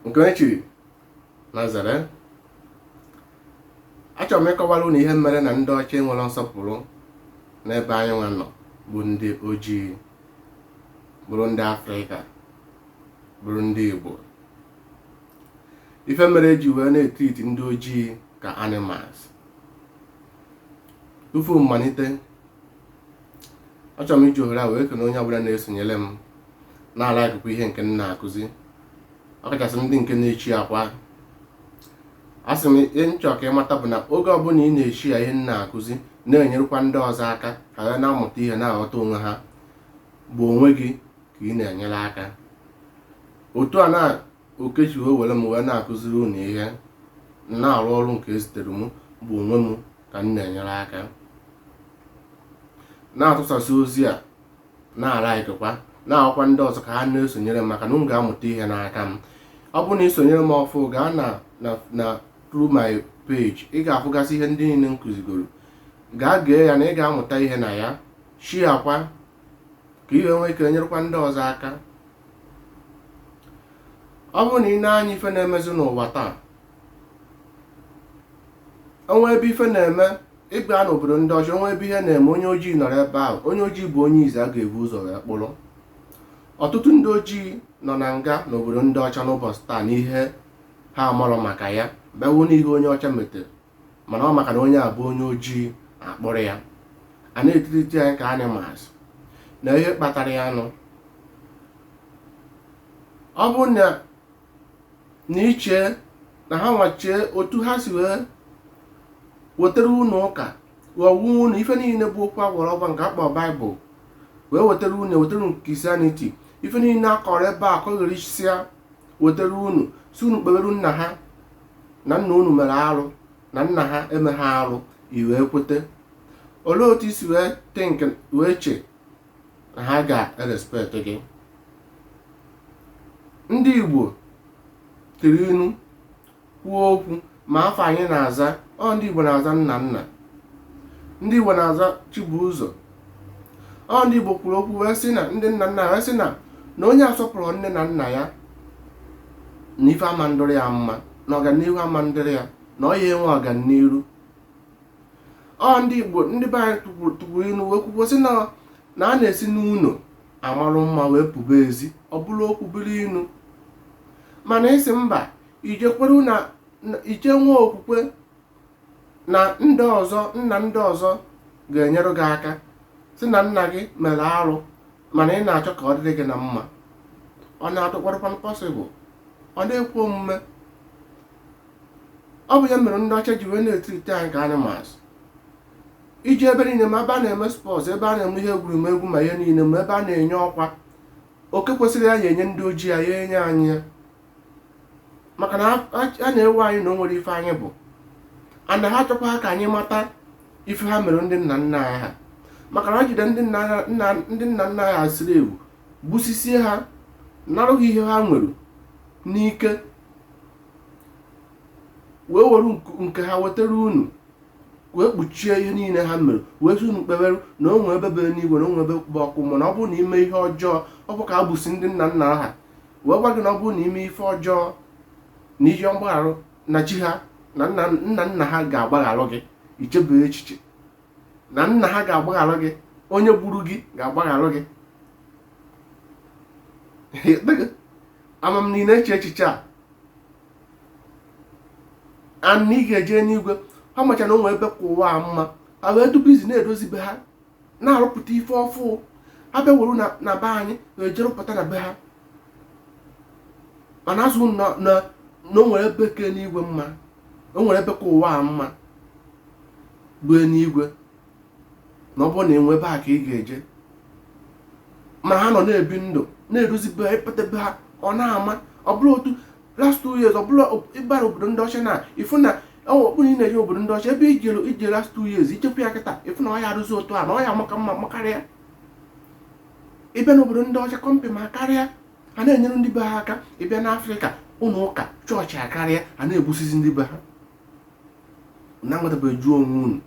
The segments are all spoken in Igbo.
nke onye chiri nya zere achọrọ m ịkọwara unu ihe mere na ndị ọcha enwerọ nsọpụrụ n'ebe anyị nwa nọ bụ ndị ojii bụrụ ndị afrịka bụrụ ndị igbo ife mere eji wee na-etriti ndị ojii ka animals tupu mmalite achọrọ m iji ohere a wee kene onye ọbụla na-esonyere m na-alaịkụkwa ihe nke m na-akụzi ọkachasị ndị nke na-eshiakwa a sị m ihe m chọ ka ị mata bụ na oge ọbụla ị na-eshia ihe m na-akụzi na-enyerekwa ndị ọzọ aka ka ha na-amụta ihe na-aghọta onwe ha bụ onwe gị ka ị na-enyere aka otu a na Okechi wee were m wee na-akụziri unu ihe na-arụ ọrụ nke ezitere m bụ onwe m ka m na-enyere aka na-atụsasị ozi a na-alaịkịkwa na-agwakwa ndị ọzọ ka ha na-esonyere m maka na unu ga-amụta ihe n'aka m ọ bụrụ na ị sonyere m ọfụ gaa na through my page ị ga-afụgasị ihe ndị niile m kụzigoro gaa gee ya na ị ga-amụta ihe na ya shiakwa ka ihe nwee ike nyerekwa ndị ọzọ aka ọ bụrụ na ị nee anya ife na-emezi n'ụwa taa o nwee ebe ife na-eme ị bịa n'obodo ndị ọcha o nwee ebe ihe na-eme onye ojii nọrọ ebe ahụ onye ojii bụ onye izi a ga-ebu ụzọ wee kpụrụ ọtụtụ ndị ojii nọ na nga n'obodo ndị ọcha n'ụbọchị taa n'ihe ha amarọ maka ya bewu n'ihe onye ọcha metere mana ọ maka na onye a bụ onye ojii a kpụrụ ya a na-etriti anyị ka animals na ihe kpatara ya nụ ọ bụ na na i che na ha wọchie otu ha si wee wetara unu ụka ghọgbuo unu ife niile bụ okwu agwara ọgwa nke akpọ baịbụl wee wetara unu wetara unu christianity ife niile akọrọ ebe a kọgherisia wetara unu sị unu kpebere nna ha na nna unu mere arụ na nna ha emeghị arụ i wee kwete olee otu i si wee think wee che na ha ga-erespekt gị ndị igbo jiri inu kwuo okwu ma afa anyị na-aza ọ ndị igbo na-aza nnanna ndị igbo na-aza chibuụzọ ọ ndị Igbo kwuru okwu wee sị na ndị nna nna wee sị na na onye asọpụrụ nne na nna ya na ife ama ndịrị ya mma na ọganihu ama ndịrị ya na ọ ya enwe ọganiru ọ ndị Igbo ndị be anyị tụkwuru inu wee kwukwo sị na na a na-esi n'ụlọ amarụ mma wee pụba ezi ọ bụrụ okwu bụrụ inu mana ị sị mba i je kwere na i je nwee okwukwe na ndị ọzọ nna ndị ọzọ ga-enyere gị aka sị na nna gị mere arụ mana ị na-achọ ka ọ dịrị gị na mma ọ na-adịkwarịkwa possible ọ na-ekwe omume ọ bụ ya mere ndị ọcha ji wee na-etreat anyị ka animals i je ebe niile ma ebe a na-eme sports ebe a na-eme ihe egwuregwu ma ihe niile ma ebe a na-enye ọkwa oke kwesịrị ya ya enye ndị ojii ya ya enye anyị ya maka na ha na-ewe anyị na o nwere ife anyị bụ ana ha achọkwa ka anyị mata ife ha mere ndị nna nna anyị ha maka na ha jide ndị nna nna ndị nna nna anyị ha siri ewu gbusisie ha narụ ha ihe ha nwere n'ike wee were nke- nke ha wetara unu wee kpuchie ihe niile ha mere wee sị unu kpebere na o nwee ebe bụ enu igwe na o nwee ebe bụ ọkụ mmụọ na ọ bụrụ na i mee ihe ọjọọ ọ bụ ka ha gbusi ndị nna nna ha wee gwa gị na ọ bụrụ na i mee ife ọjọọ na ihe mgbagharụ na chi ha na nna nna ha ga-agbagharụ gị i chebe echiche na nna ha ga-agbagharụ gị onye gburu gị ga-agbagharụ gị ama m na ị na-eche echiche a na ị ga-eje n'igwe ha macha na o nwe ebe ka ụwa a mma ha wee dubizi na-edozi be ha na-arụpụta ife ọfụụ ha bịa were na be anyị na-eje arụpụta na be ha mana asị unu na o nwere ebe ka enu igwe mma o nwere ebe ka ụwa a mma bụ enu igwe na ọ bụrụ na ị nwụọ ebe a ka ị ga-eje ma ha nọ na-ebi ndụ na-edozi be ha ị pụta be ha ọ na-ama ọ bụrụ otu last two years ọ bụrụ ị bara obodo ndị ọcha na ị fụ na ọ bụrụ ị na-eje obodo ndị ọcha ebe i jere eje last two years i jekwa ya kịta ị fụ na ọ ya arụzi otu a na ọ ya-amaka mma makarịa ị bịa n'obodo ndị ọcha company akarịa ha na-enyere ndị be ha aka ị bịa n'africa ụlọ ụka church akarịa ha na-egbusizi ndị be ha na-anwetabeghị jụọ onwe unu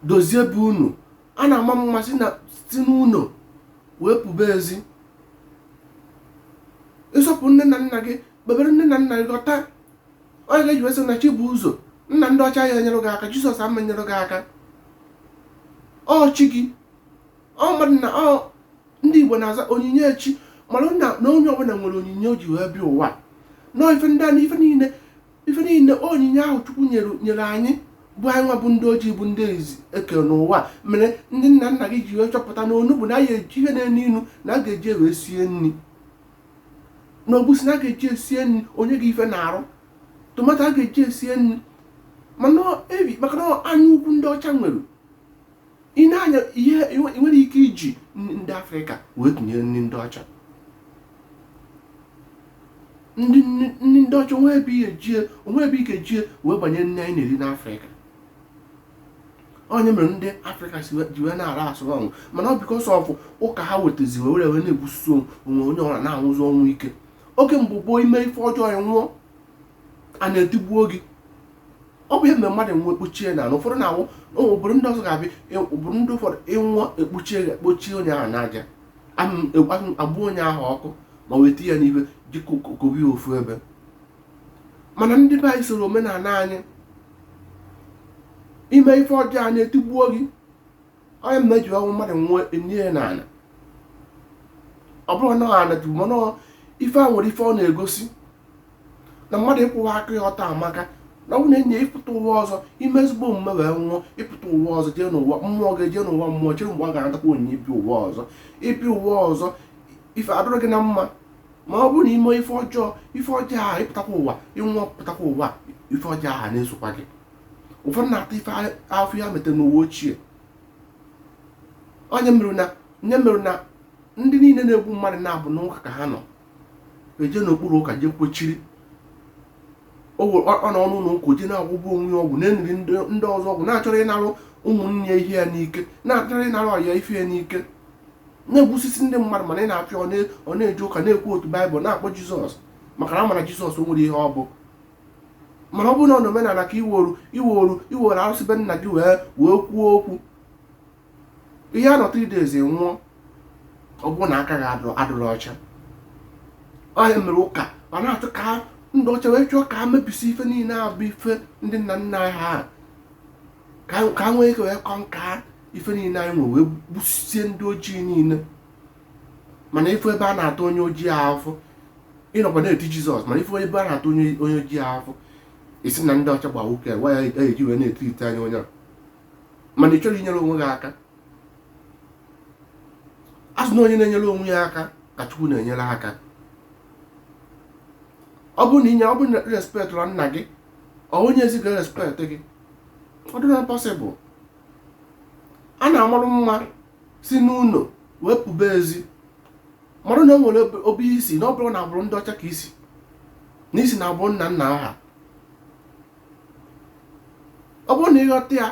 dozie be unu a na-ama mma si na si n'ụlọ wee pụba ezi ị sọpụ nne na nna gị kpebere nne na nna gị ghọta onye ga-eji wee sị na chi bu ụzọ nna ndị ọcha ya enyere gị aka jizọs ama-enyere gị aka ọ chi gị ọ mmadụ na ọ ndị igbo na-aza onyinye chi mana na na onye ọbụla nwere onyinye o ji wee bịa ụwa na ife ndị a na ife niile ife niile onyinye ahụ chukwu nyere nyere anyị bụ anyị nwa bụ ndị ojii bụ ndị izizi e kere n'ụwa mere ndị nna nna gị ji wee chọpụta na onugbu na ya eji ihe na-enu inu na a ga-eji wee sie nri na egwusi na a ga-eji esie nri onye gị ife na-arụ tomato a ga-eji esie nri mana ebi maka na anya ukwu ndị ọcha nwere ị na-anya ihe ị nwere ike iji ndị afrịka wee tụnyere nri ndị ọcha ndị ndị ọcha onwe ebe ihe jie onwe ebe ike jie wee banye nri anyị na-eri n'afrịka ọ ya mere ndị afrịka si ji wee na-ara asụ ọnwụ mana ọ because of ụka ha wetazi wee were wee na-egbusi onwe anyị were na-anwụzi ọnwụ ike oge mgbe gboo ime ife ọjọọ ị nwụọ a na-etigbuo gị ọ bụ ihe mere mmadụ nwụọ ekpuchie n'ala ụfọdụ na-awụ obodo ndị ọzọ ga-abịa e, obodo ndị ụfọdụ ị nwụọ ekpuchie ya kpuchie onye ahụ n'aja agba onye ahụ ọkụ ma weta ya n'ibe ji kokobi ofu ebe mana ndị be anyị soro omenala anyị ime ife ọjọọ a na-etigbuo gị onye mgbe eji ọnwụ mmadụ nwụọ enie ya n'ala ọ bụrụ na ana ajụ mana ife a nwere ife ọ na-egosi na mmadụ ịkwụwa aka ya ọtọ amaka na ọ bụ na enye ya ịpụta ụwa ọzọ ime ezigbo omume wee nwụọ ịpụta ụwa ọzọ jee n'ụwa mmụọ gị jee n'ụwa mmụọ chere mgbe ọ ga-anatakwa onyinye ibi ụwa ọzọ ibi ụwa ọzọ ife adụrụ gị na mma ma ọ bụrụ na ime ife ọjọọ ife ọjọọ ahụ ịpụtakwa ụwa ị nwụọ pụtakwa ụwa ife ọjọọ ahụ na-esokwa gị ụfọdụ na-ata afụfụ ya metere n'ụwa ochie ọ ya mere na ya mere na ndị niile na-egbu mmadụ na-abụ n'ụka ka ha nọ eje n'okpuru ụka jee kpuchiri ọ nọ n'ụlọ ụka o je na-agwọgbu onwe ya ọgwụ na-eniri ndị ọzọ ọgwụ na-achọrọ ịnarụ ụmụnne ya ihe ya n'ike na-achọrọ ịnarụ ọyị ya ife ya n'ike na-egbusisi ndị mmadụ mana ị na-afụ ya ọ na-eje ụka na-quote baịbụl na-akpọ jizọs maka na ọ ma na jizọs o nwerọ ihe ọ bụ mana ọ bụrụ na ọ n'omenala ka iworu iworu iworu arụsị be nna gị wee wee kwuo okwu ị ya-anọ three days ị nwụọ ọ bụrụ na aka gị adụ- adụrụ ọcha ọ ya mere ụka ma na-atụ ka ndị ọcha wee chọọ ka ha mebisi ife niile a bụ ife ndị nna nna anyị ha ka ha nwee ike wee conquer ife niile anyị nwere wee gbusie ndị ojii niile mana ị fụ ebe a na-ata onye ojii ahụfụ ị nọkwa na-eti jizọs mana ị fụ ebe a na-ata onye onye ojii ahụfụ ị sị na ndị ọcha gba nwoke a, waya eji wee na-eti ite anya onye a mana ị chọrọ inyere onwe gị aka a sị na onye na-enyere onwe ya aka ka chukwu na-enyere aka ọ bụrụ na inye ọ bụrụ na respect na nna gị ọ onye ezi ga-respect gị ọ dụrọ possible a na-amarụ mma si n'ụlọ wee pụba ezi mara na o nwere ebe i si na ọ bụrọ n'agbụrụ ndị ọcha ka i si na i si n'agbụrụ nna nna ha ọ bụrụ na ị ghọta ya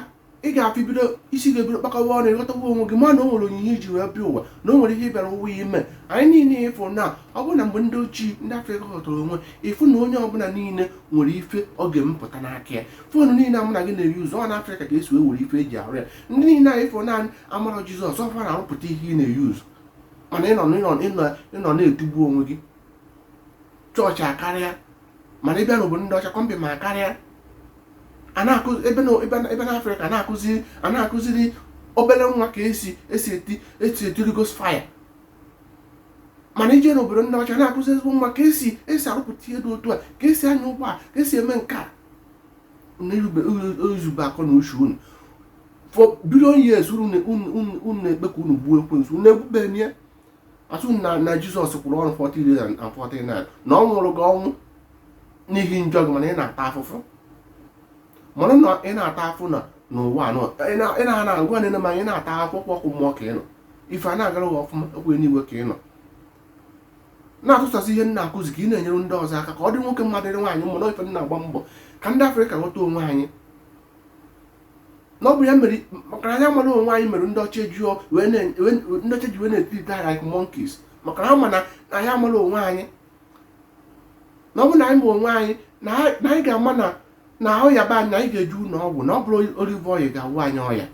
ị ga-afụ ibido isi ga-ebido kpakọwa ọnụ ị ghọtawa onwe gị ma na o nwere onyinye i ji wee bịa ụwa na o nwere ihe ị bịara ụwa ime anyị niile ịfụ na ọ bụrụ na mgbe ndị ochie ndị afrịka ghọtara onwe ịfụ na onye ọbụla niile nwere ife ọ ga-emepụta n'aka ya phone niile a mụ na gị na-use ọ n'afrịka ka esi wee were ife eji arụ ya ndị niile anyị fụ na amarọ jizọs ọ fa na-arụpụta ihe ị na-eyuzu mana ịnọ na-etugbu onwe gị chọọchị akarịa mana ịbịa n'obodo ndị ọcha kọmpịnị akarịa ebe na afrịka na-akụziri obere nwa ka esi esi eti esi eti holy ghost fire mana ije n'obodo ndị ọcha na-akụzi ezigbo nwa ka esi esi arụpụta ihe dị otu a ka esi anya ụgbọ a ka esi eme nke a yuzube akọ na uche unu for billion years unu na-ekpe ka unu gbuo ekwensu unu egbuberọ ya asị na jizọs kwụrụ ọrụ 40 days and 40 night na ọ nwụrụ gị ọnwụ n'ihi njọ gị mana ị na-ata afụfụ mana na ị na-ata afụ na n'ụwa anọ ị na na ngwa nene ma ị na-ata akwụkwọ ọkụ mmụọ ka ị nọ ife a na-agara gị ọfụma ọ kwa n'igwe ka ị nọ na-atụsasị ihe m na-akụzi ka ị na-enyere ndị ọzọ aka ka ọ dị nwoke mma dịrị nwaanyị mma na ife m na-agba mbọ ka ndị afrịka ghọta onwe anyị na ọ bụ ya mere maka na anyị amarọ onwe anyị mere ndị ọcha ji wee na-etriiti anyị like monkeys maka na ha ma na anyị amarọ onwe anyị na ọ bụ na anyị ma onwe anyị na anyị ga-ama na na ahụ yaba na anyị ga-eje ụlọ ọgwụ na ọ bụrọ olive oil ga-agwọ anyị ọya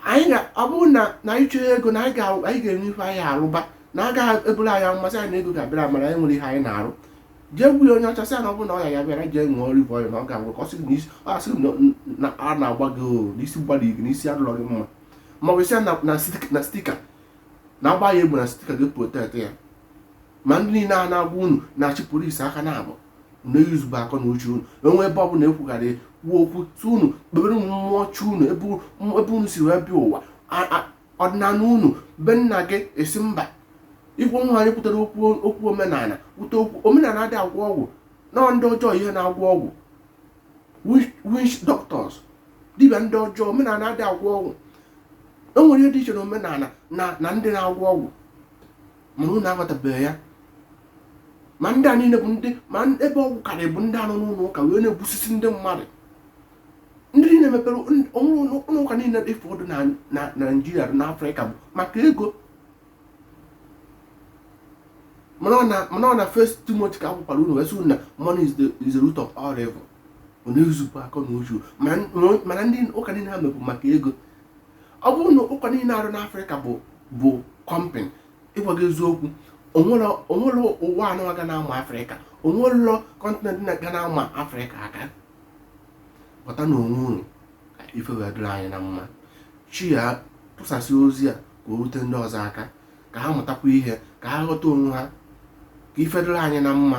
anyị ga ọ bụrụ na na anyị chọrọ ego na anyị ga- anyị ga-enwe ife anyị arụba na a gaghị eburu anyị amụma sị anyị na ego ga-abịara amara anyị nwere ihe anyị na-arụ jee gwa onye ọcha sị ya na ọ bụrụ na ọya yaba ya jee ṅụọ olive oil na ọ ga-agwọ ka ọ sị gị na isi- ọ asị gị na- na ara na-agba gị o na isi gbara gị na isi adụrọ gị mma ma ọ bụ sị ya na- na stik- na stika na a gbaa ya egbe na stika ga-eprotekt ya ma ndị niile a na-agwa unu na-achị polisi aga na-abụ na-eyuzube akọ na uche unu enwe ebe ọbụla ekwugharị kwuo okwu sị unu kpebere unu mmụọ chi unu ebe unu si wee bịa ụwa ọdịnala unu be nna gị ị sị mba ikwu nwa anyị kwutere okwu okwu omenala kwute okwu omenala adị agwọ ọgwụ na ndị ọjọọ ihe na-agwọ ọgwụ witch doctors dibịa ndị ọjọọ omenala adị agwọ ọgwụ enwere ihe dị iche na omenala na ndị na-agwọ ọgwụ mana unu aghọtabeghị ya ma ndị a niile bụ ndị ma ebe ọgwụ karị bụ ndị a nọ n'ụlọ ụka wee na-egbusisi ndị mmadụ ndị niile mepere ụlọ ụka niile ị fụ ọ dụ na naijiria na afrịka bụ maka ego mana ọ na first timothy ka ekwukwara unu wee sị na money is the, is the root of all evil ọ na-eyuzube akọ na uche mana ndị ụka niile ha mepụ maka ego ọ bụrụ na ụka niile arụ n'afrịka bụ bụ kọmpịnị ịgwa gị eziokwu o nwerọ ụwa anọ ga na-ama afrịka o nwerọ kọntinent ga na-ama afrịka aka ghọtanụ onwe unu ka ife wee dịrị anyị na mma share tụsasị ozi a ka o rute ndị ọzọ aka ka ha mụtakwa ihe ka ha ghọta onwe ha ka ife dịrị anyị na mma